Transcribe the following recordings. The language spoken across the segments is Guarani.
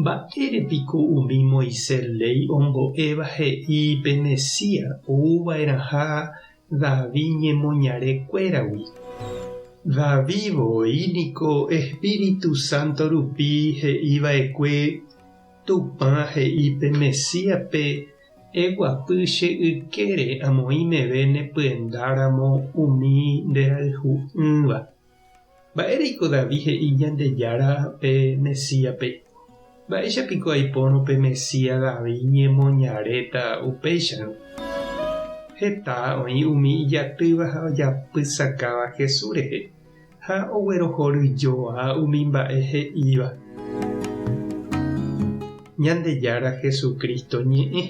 Mba'ére piko umi Moisés léi ombo'éva he'i pe Mesías ouva'erãha David ñemoñare kuéragui? David voi niko espíritu sánto rupi he'i va'ekue Tupã he'i pe Mesíaspe, Eguapy che ykére amoĩ meve ne pyendáramo umi nderayhu'ỹva. Mba'éreiko David he'i Ñandejára pe Mesíape? Mba'éicha piko aipórõ pe Mesías David ñemoñaréta upéicharõ? Heta oĩ umi ijatýva ha ojapysakáva Jesús rehe, ha oguerohoryjoa umi mba'e he'íva. Ñandejára Jesucristo ñe'ẽ.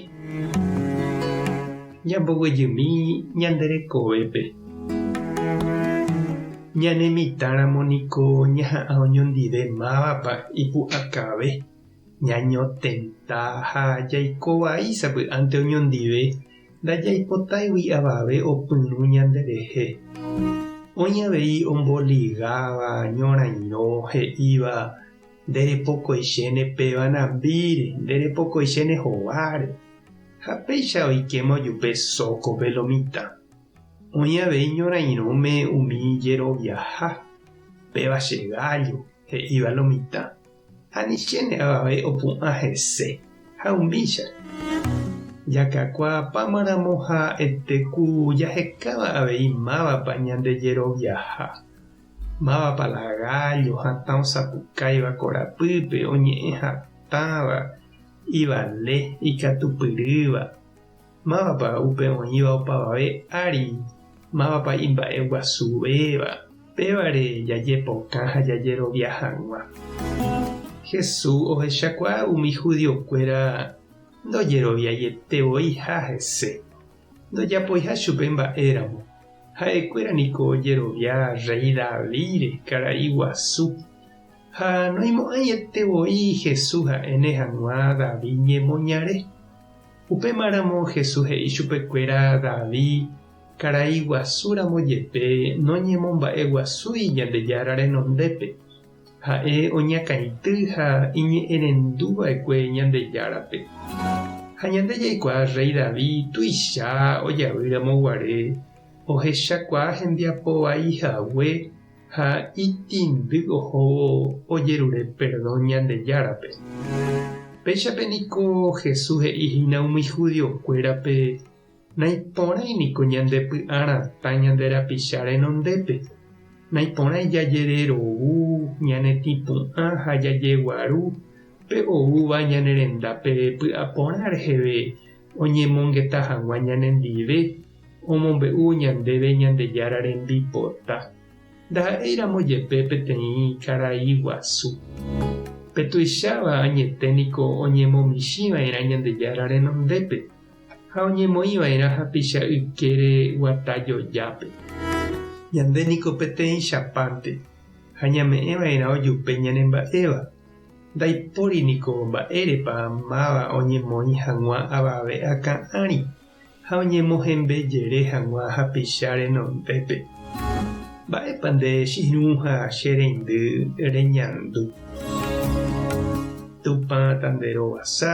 Ñamboguejymi ñande rekovépe. Ñane mitãramo niko ñaha'ã oñondive mávapa ipu'akave, ñañotenta ha jaiko vai sapy'ánte oñondive, ndajaipotáigui avave opyrũ ñande rehe. Oĩ avei omboligáva, ñorairõ, he'íva, Nde repokoichéne pe vanambíre, nde repokoichéne hováre. Ha péicha oikéma ojupe sóko pe lo mitã. Oĩ avei ñorãirõme umi jeroviaha, péva che gállo, he'íva lo mitã. Anichéne avave opu'ã hese. Ha umícha. Jakakuaapáma ramo ha ete ku jahekáva avei mávapa ñande jeroviaha, Mávapa la gállo hatã osapukáiva korapýpe, oñe'ẽ hatãva, ivale, ikatupyrýva? Mávapa upe oĩva opavave ári? Mávapa imba'eguasuvéva? Pévare jajepokã ha jajerovia hag̃ua. Jesús ohechakuaa umi judiokuéra ndojeroviaietevoi ha hese. ndojapoiha chupe mba'éramo, ha'ekuéra niko ojerovia rréi Davídre karai guasu. Ha noimo'ãiete voi Jesús ha'éne hag̃ua David ñemoñare. Upémaramo Jesús he'i chupekuéra David karai guasúramo jepe noñemomba'eguasúi Ñandejára renondépe, Ha'e oñakãity ha iñe'ẽrendu va'ekue Ñandejárape. Ha ñande jaikuaa rréi Davi tuicha ojavy ramo guare ohechakuaa hembiapo vai hague ha itĩndy ohóvo ojerure perdón Ñandejárape. Péichape niko Jesús he'i hína umi judiokuérape Naiporãi niko ñandepy'a ratã ñande rapicha renondépe. Naiporãi jajererovu, ñanetĩpu'ã ha jajeguaru pe oúva ñane rendápe py'a porã reheve oñemongeta hag̃ua ñanendive, omombe'u ñandéve Ñandejára rembipota. Ndaha'éiramo jepe peteĩ karai guasu. Pe tuicháva añete niko oñemomichĩva'erã Ñandejára renondépe. ha oñemoĩ va'erã hapicha ykére guata jojápe. Ñande niko peteĩ chapánte ha ñame'ẽ va'erã ojupe ñanemba'éva. Ndaipóri niko mba'érepa máva oñemoĩ hag̃ua avave akã ári ha oñemohembe jere hag̃ua hapicha renondépe. Mba'épa nde che irũ ha che reindy reñandu? Tupã tanderovasa.